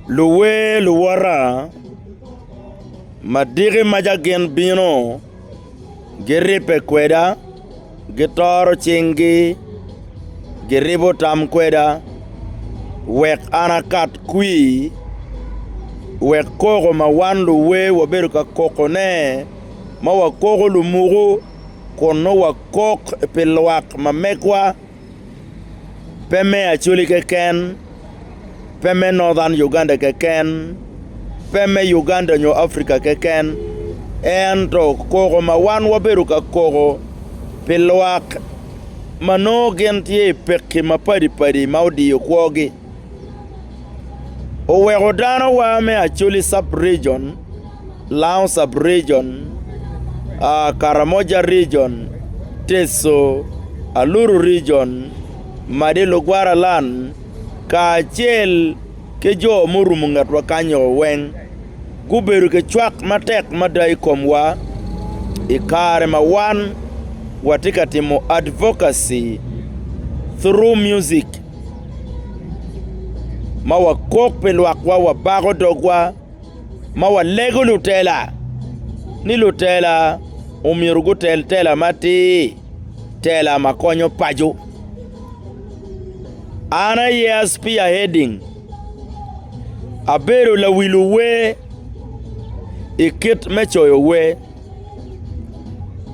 Luwer luwota madiki ma ca gin bino giribbe kweda, gitoro cinggi, giribo tam kweda wek an akat kwi, wek koko ma wan luwer wabedo ka kokone ma wakoko lumuku kun nongo wakok pi lwak ma megwa. pe me Acholi keken, pe me Northern Uganda keken, pe me Uganda nyo Africa keken, ento koko ma wan wabedo ka koko pi lwak ma nongo gin tye i pekki mapadi padi ma odiyo kwogi. oweko dano wa me Acholi sub region, Lango sub region, Karamoja region, Teso, Aluru region, Madi Lugwara land kacel ki jo murumo ngetwa kanyo weng gubedo ki cwak matek mada i komwa i kare ma wan watye ka timo advocacy through music. Ma wakok pi lwakwa, wabako dogwa, ma walego lutela ni lutela omyero gutel tela matir, tela ma konyo paco. An aye a spearheading, abedo lawil wer i kit me coyo wer.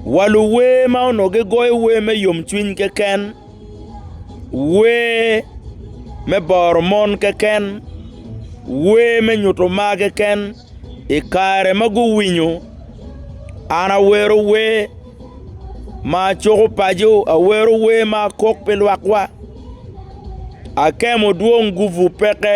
Wa luwer ma onongo gigoyo wer me yomcwiny keken. Wer me boro mon keken, wer me nyuto mar keken i kare ma guwinyo an awero wer ma cuko paco, awero wer ma kok pi lwakwa, akemo dwong gupu peke.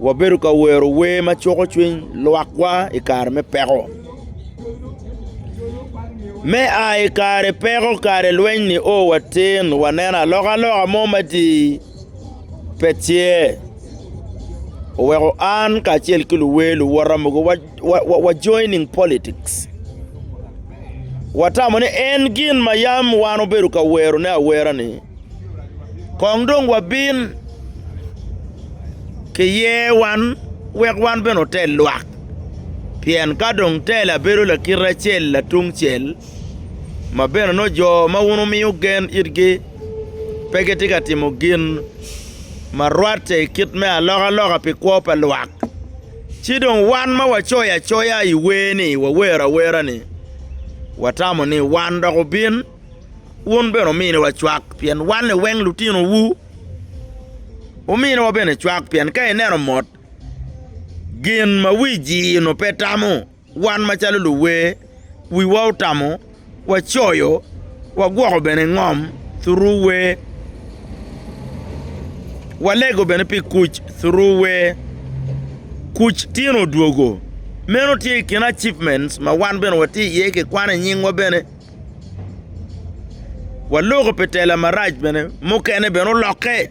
wabedo ka wero wer ma cuko cwiny lwakwa i kare me peko. Me a i kare peko kare lweny-ni o watin, waneno alokaloka mo matir pe tye. Oweko an kacel ki luwer luwota mogo wa joining politics. Watamo ni en gin ma yam wan obedo ka werone awera-ni. Kong dong wabin ki yewan wek wan bene otel lwak, pien ka dong tela bedo lakite acel latungcel, ma bene nongo jo ma wun wumiyo gen itgi pe gitye ka timo gin ma rwatte i kit me alokaloka pi kwo pa lwak, ci dong wan ma wacoyo acoya i wer-ni, wawero awera-ni, watamo ni wan dok obin. wun bene ominiwa cwak, pien wan liweng lutinowu. Ominiwa bene cwak, pien ka ineno mot, gin ma wi jii-nu pe tamo, wan macalo luwer, wiwa otamo, wacoyo, wagwoko bene ngom thuru wer, walego bene pi kuc thuru wer. Kuc tino odwogo. Meno tye i kin achievements ma wan bene watye iye kikwane nyingwa bene. Waloko pi tela marac bene mukene bene olokke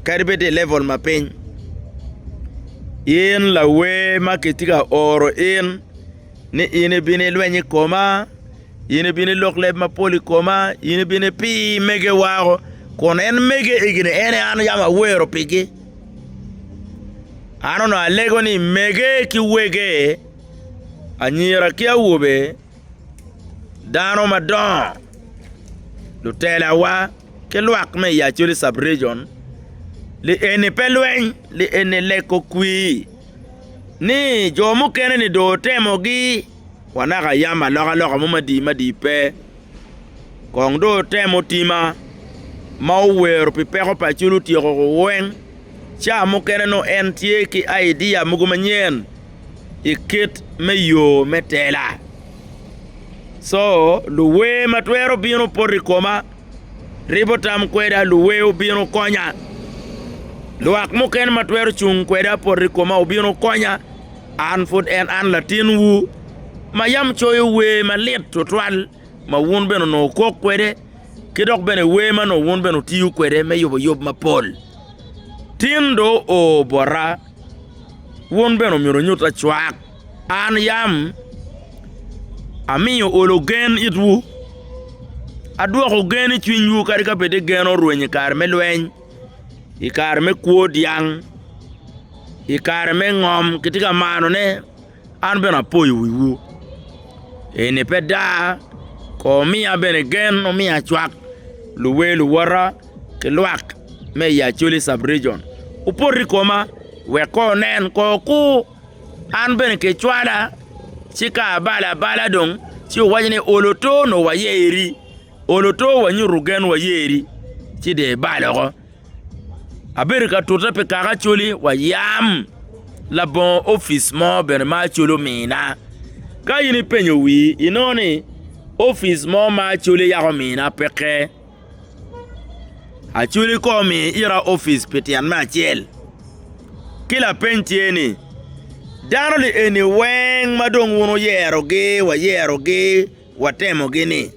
kadi bed tye i level ma piny in lawer ma kitye ka oro in ni in ibino ilweny i koma in ibino ilok leb mapol i koma in ibino ipi mege wako kun en mege egini en aye an yam awero pigi an onongo alego ni mege ki wege anyira ki awobe dano madongo lutelawa ki lwak me i Acholi cub region ni eni pe lweny ni eni leko kwir ni jo mukene ni dong otemogi wa naka yam alokaloka mo madi madi pe kong dong otemo tima ma owero pi peko pa Acholi otyeko weng ca mukene nongo en tye ki idea mogo manyen i kit me yo me tela. Co luwer ma twero bino poto i koma ribo tam kweda, luwer obino konya, lwak mukene ma twero cung kweda poto i koma obino konya, an pud en an latinwu ma yam coyo wer malit tutwal ma wun bene onongo wukok kwede ki dok bene wer ma onongo wun bene wutiyo kwede me yuboyub mapol. Tin dong oo bota. Wun bene omyero wunyut lacwak. An yam amiyo olo gen itwu, adwoko gen i cwinywu kadi ka bed ni gen orwenyo i kare me lweny, i kare me kwo dyang, i kare me ngom, kitye ka manone. An bene apoyo wiwu. Eni pe daa, kono omiya bene gen, omiya cwak, luwer luwota ki lwak me i Acholi Sub-region opot i koma wek kong onen, kong okur. An bene kicwala ci ka abalo abala dong ci wuwaco ni ol oto onongo waye iri. Olo to wa nyutu gen wa yeri ci de ibal oko. Abedo ka tute pi kaka acoli wa yam labongo opic mo bene ma acoli omina. Ka in ipenyo wi inongo ni opic mo ma acoli yako omina peke. Acoli ko omi ira opic pi tyen me acel. Ki lapeny tye ni dano ni eni weng ma dong wun wuyero gi wa yero gi. Watemogi ni,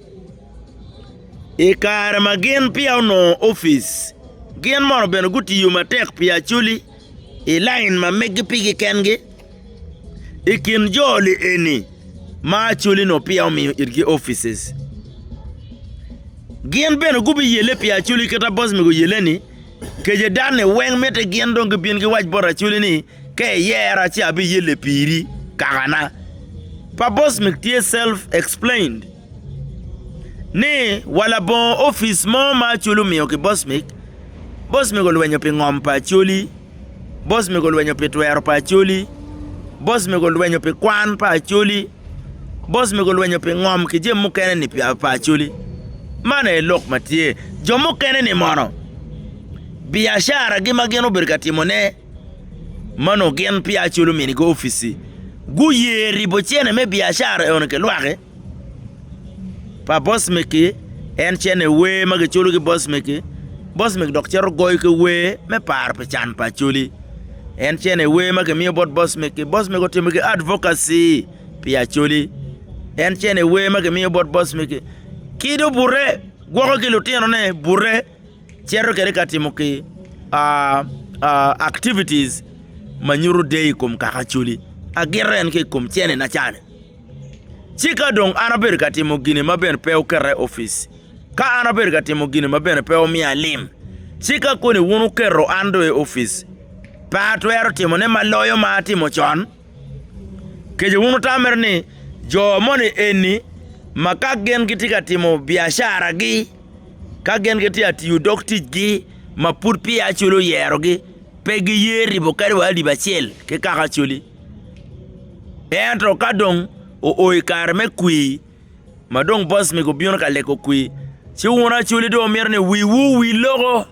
I kare ma gin peya onongo opic, gin mono bene gutiyo matek pi Acholi i lain ma meggi pigi kengi? I kin jo lieni ma Acholi-nu peya omiyo itgi opic, gin bene gubiyelle pi Acholi kit ma Bosmig oyelle-ni? Kejedan-ni weng mitte gin dong gibin giwac bot Acholi ni, Ka iyera ci abiyelle piri kakana. Pa Bosmic tye self explained ni wa labongo opic mo ma Acholi omiyo ki Bosmic, Bosmic olwenyo pi ngom pa Acholi, Bosmic olwenyo pi twero pa Acholi, Bosmic olwenyo pi kwan pa Acholi, Bosmic olwenyo pi ngom ki jami mukene ni pa Acholi. Man aye lok ma tye. Jo mukene ni mono biacara gi ma gin obedo ka timone. ma onongo gin peya culo mini ki opic-ci guye ribo cene me biacara eno ki lwaki pa boss megi en cene wer ma giculo ki boss megi boss megi dok cito goyo ki wer me paro pi can pa acholi en cene wer ma kimiyo bot boss megi boss megi otimo ki advocacy pi acholi en cene wer ma kimiyo bot boss megi ki dong bute gwoko ki lutino ne bute. cito kede ka timo ki activities ma nyuto deyo i kom kaka Acholi, agito en ki i kom cene na ca-ni. Ci ka dong an abedo ka timo gin ma bene pe oketa i opic, ka an abedo ka timo gin ma bene pe omiya lim, ci ka koni wun wuketo an dong i opic, pe atwero timone ma loyo ma atimo con? Kece wun wutammere ni jo moni eni ma ka gin gitye ka timo biacaragi, Ka gin gitye ka tiyo dog ticgi ma pud peya Acholi oyerogi, pe giye ribo kadi wa alip acel ki kaka Acholi. Ento ka dong oo i kare me kwir ma dong boss mego obino ka lego kwir, ci wun Acholi dong wumito ni wiwu owil loko.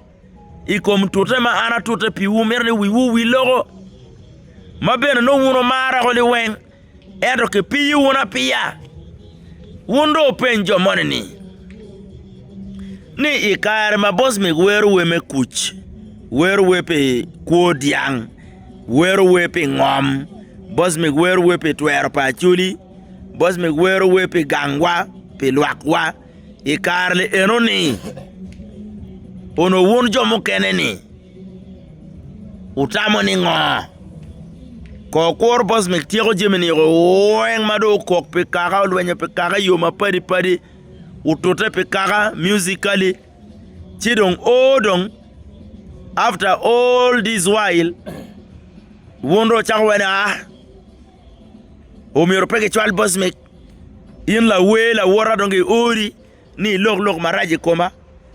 i kom tute ma an atute piwu, mito ni wiwu owi loko, ma bene nongo wun wumara woko liweng, ento kipiyo wunu apiya. Wun dong wupeny jo moni ni, ni i kare ma boc mig wero wer me kuc, wero wer pi kwo dyang, wero wer pi ngom, boc mig wero wer pi twero pa acholi, boc mig wero wer pi gangwa, pi lwakwa, i kare-ni enoni, onongo wun jo mukene-ni wutamo ni ngo? Kor kwoyo Bosmik tyeko jami-ni weng ma dong okok pi kaka, olwenyo pi kaka i yo mapadi padi, otute pi kaka musically, ci dong o dong after all this while wun dong wucako wene aa? omyero pe gicwal bocmek. In lawer lawota dong giori ni ilok lok marac i koma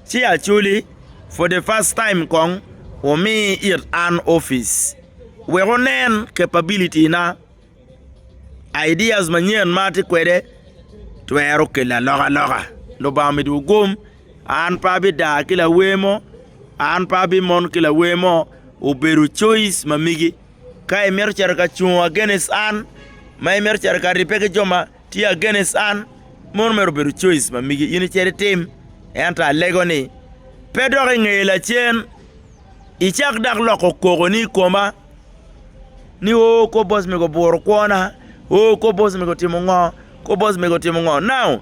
ci acwali for the first time kong wumi it an opic wek wunen capability na, ideas manyen ma atye kwede twero kelo alokaloka. Lubanga omidowu gum, an pe abidar ki lawer mo, an pe abimon ki lawer mo, obedo coice ma megi. ka imito cito ka cungo against an, ma imito cito ka ribbe ki jo ma tye against an, meno mere obedo coice ma migi in icit itim. Ento alego ni, pe dok ingeye lacen, icak dak loko kokoni i koma ni, 'Oo, kor boss mega oburo kwona. Oo, kor boss mega otimo ngo, kor boss mega otimo ngo. Now!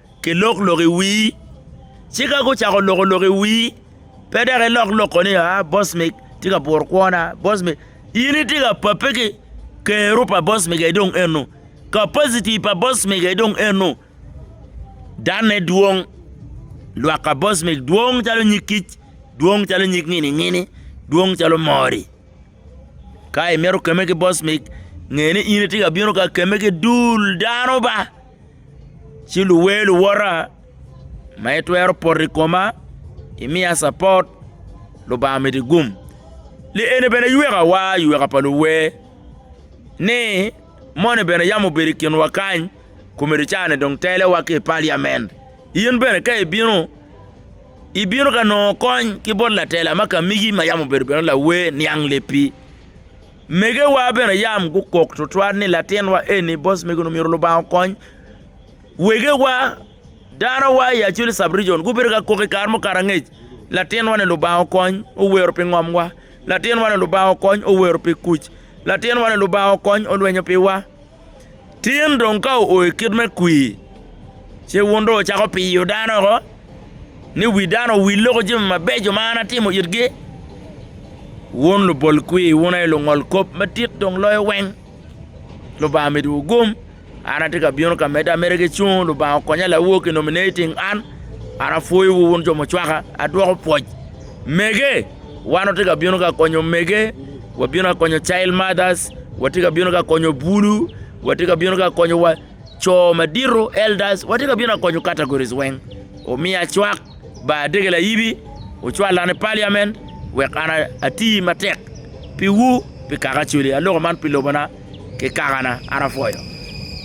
ki lok lok i wii ci ka gucako loko lok i wii pe dok i lok lok koni aa boss me tye ka puro kwona boss me in i tye ka pape ki kero pa boss me ga dong eno capacity pa boss me ga dong eno dane dwong lwak ka boss me dwong calo nyig kic dwong calo nyig ngini ngini dwong calo mori ka i mito keme ki boss me ngeni in i tye ka bino ka keme ki dul dano ba Ci luwer luwota ma itwero poto i koma, imiya capot, Lubanga miti gum. Li eni bene ywekawa, yweka pa luwer ni moni bene yam obedo i kinwa kany, komedi caa-ni dong telewa ki i paliamen. In bene ka ibino, ibino ka nongo kony ki bot latela ma Kamigi ma yam obedo bene lawer niang lepi. Megewa bene yam gukok tutwal ni, 'Latinwa eni, boss mego-nu myero Lubanga okony. Wegewa, danowa i Acholi Sub-region gubedo ka kok i kare mukato angec, 'Latinwa-ni Lubanga okony, owero pi ngomwa. Latinwa-ni Lubanga okony, owero pi kuc. Latinwa-ni Lubanga okony, olwenyo piwa. Tin dong ka oo i kit me kwir, ce wun dong wucako piyo dano woko, ni wi dano owil loko jami mabeco ma an atimo itgi? Wun lubol kwir, wun aye lungol kop madit dong loyo weng! Lubanga miduwu gum. An atye ka bino ka medde ameda ki cung, Lubanga okonya lawok i nominating an. An apwoyowu wun jo mucwaka, adwoko pwoc. Mege, wan watye ka bino ka konyo omege. Wabino ka konyo Child Mothers, watye ka bino ka konyo Bulu, watye ka bino ka konyo wa co madito, Elders, watye ka bino ka konyo categories weng. Omiya cwak, ba adege layibi, wucwala ni Parliament wek an ati matek piwu, pi kaka Acholi. Aloko man pi lobona ki kakana, an apwoyo.